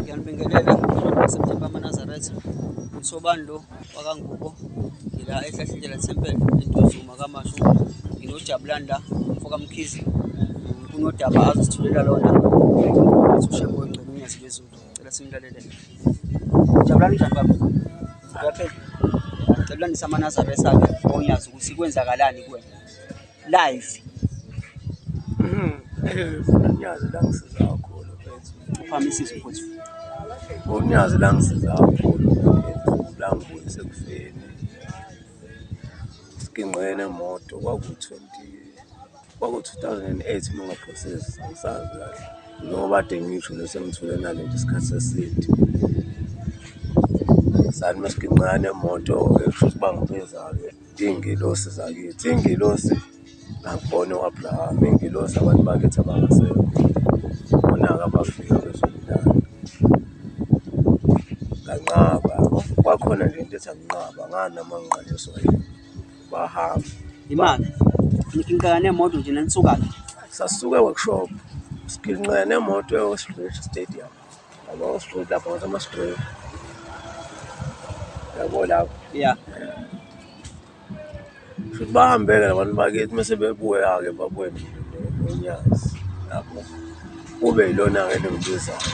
ngiyanibingelela September amanazareth usobani lo wakangubo ngila ehlahlindlela temple entuzuma kamashu nginojabulani la mfokamkhizi kunodaba azosithulela lona ushembo ongcebo unyazi lwezulu cela simlalele jabulani njani baba uyaphela jabulanisa amanazareth akhe onyazi ukuthi kwenzakalani kuwena live unyazi langisiza kakhulu mfethu uphame isizo futhi unyazi langisiza kakhulu langibuyise ekufeni sigingqene moto kwaku-20 kwaku-2008 uma ngaphosisi angisazi kahle njengoba ade ngisho nesemthule nalento isikhathi seside sani masigingqane moto ekusho ukuthi bangibezalo Ingelosi zakithi, ingelosi nakubona u-Abrahama, ingelosi abantu bakithi abangasekho, bona-ke abafika bezobulala. Nganqaba, kwakhona nje into ethi anginqaba, nganama ngiqaliswa yini, bahamba. Imali, ngiqala nemoto nje nanisuka-ke. Sasuka e-workshop, siginqika nemoto e-Orange Stadium. Yabo, straight lapho ngathi ama-straight. Yabo lapho. Yeah. Futhi bahambele labantu bakithi mase bebuya-ke babuye nonyazi lapho. Kube yilona-ke lengibizayo.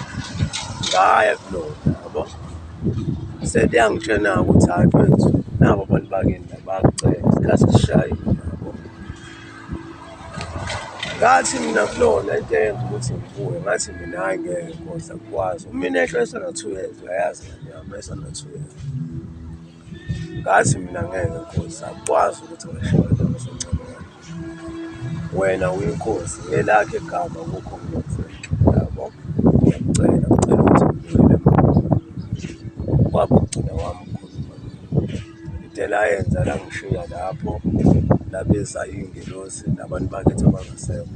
Ngaya kulona, yabo. Sede yangitshena-ke ukuthi hhayi mfethu, nabo abantu bakini la bayakucela, isikhathi sishayile. ngathi mina kulona into eyenza ukuthi ngibuye ngathi mina hayi ngeke kodwa kukwazi umina ehlo esana-two years uyayazi nganyama esana-two years ngathi mina ngeke nkosi akukwazi ukuthi ngashona ngizoncamela wena uyinkosi ngelakhe igama kukho nginotheke yabo ngiyacela ngicela ukuthi ngibuyele emkhulu kwaba ugcina wami Indlela ayenza langishiya lapho labeza iy'ngelosi nabantu bakithi abangasekho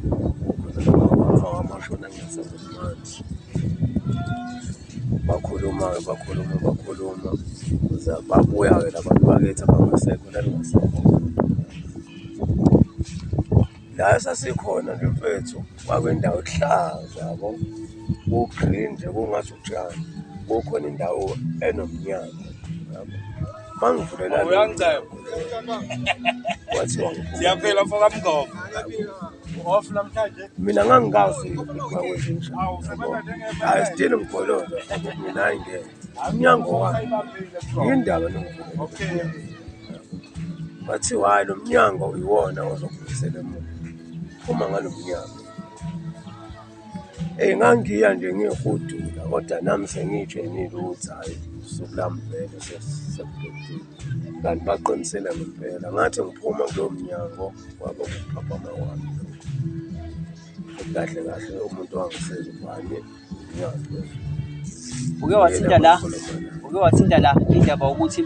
khona wamashona ngingasebenzi bakhuluma-ke bakhuluma bakhuluma babuya-ke labantu bakithi abangasekho lalingasekho la sasikhona nje mfethu kwakwendawo ehlaza yabo ku-green nje kungathi utshani kukhona indawo enomnyango yabo mangivulela kwathiwa siyaphela mfoka mngoma off namhlanje mina ngangikazi kwakwenzenjani hayi still mgololo mina ayingeke umnyango wami yindaba nokuvula bathi hhayi lo mnyango iwona ozokubuyisela emuva uma ngalo mnyango eyi ngangiya nje ngihudula kodwa nami sengiyitshenile ukuthi hhayi usuku lami vele sesebudodile kanti baqinisele ngempela ngathi ngiphuma kulowo mnyango wabo kuphaphama wami kahle kahle umuntu wangisiza ubani uke wathinta la uke wathinta la indaba ukuthi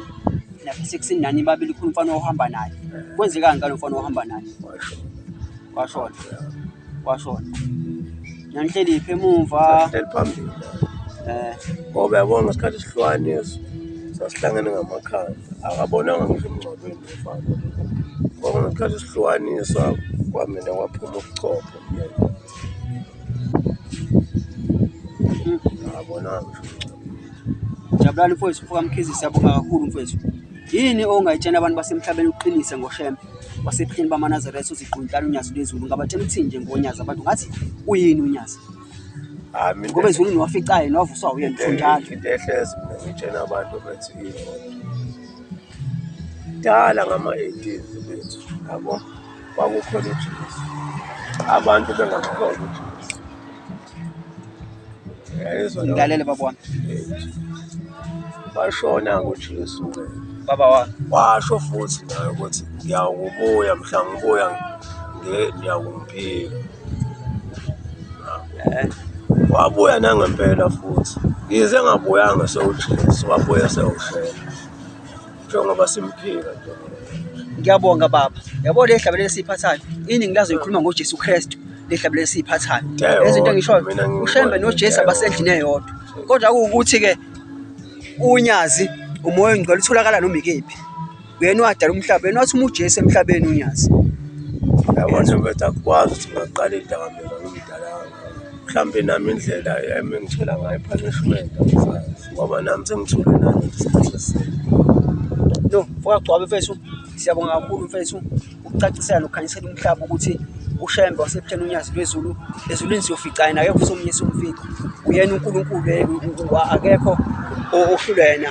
nasekusini nani babili khona umfana ohamba naye kwenzekani ngalo mfana ohamba naye washona washona nangihleli phi emuva phambili eh ngoba yabona ngesikhathi sihlwaniso sasihlangene ngamakhanda akabonanga ngisho emngcwabeni umfana ngoba ngesikhathi sihlwanisa kwamina kwaphuma ubuchopho Jabulani mfowethu, mfoka Mkhize, siyabonga kakhulu mfowethu. Yini ongayitshela abantu basemhlabeni uqinise ngoShembe wasebuhleni bamaNazaretha uziquntana uNyazi lwezulu ngabatshela ukuthi nje ngoNyazi abantu ngathi uyini uNyazi? Ah, Ngoba ezulwini waficayo nowavuswa uyena mfo njalo. Into ehlezi mina ngitshela abantu bethi yini. Dala ngama-80s bethu, yabo. kwakukhona uJesu abantu bengamkhona uJesu yayizwa nabo Ngilalele baba wami. bashona ngoJesu Baba wami. washo futhi naye ukuthi ngiyawukubuya mhla ngibuya nge- ngiyakumphika Eh, wabuya nangempela futhi ngize ngabuyanga sewujesu wabuya sewushela njengoba simphika ngiyabonga baba yabo le hlabele lesiphathayo iningi lazo ikhuluma ngoJesu Kristu le hlabele lesiphathayo lezinto engishoyo ushembe noJesu abasendlini eyodwa kodwa kuwukuthi ke unyazi umoya ongcwele utholakala noma ikephi uyena wadala umhlaba yena wathi uma uJesu emhlabeni unyazi yabona ukuthi akwazi ukuthi ngaqala idakamizwa ngomdala mhlawumbe nami indlela yami engithola ngayo i-punishment angisazi ngoba nami sengithule nami isikhathi eside yo mfoka gcwabe mfethu siyabonga kakhulu mfethu ukucacisela nokukhanyisela umhlaba ukuthi ushembe wasebutheni unyazi lwezulu ezulwini siyofica yena akekho somunye somfika uyena unkulunkulu akekho ohlulwa yena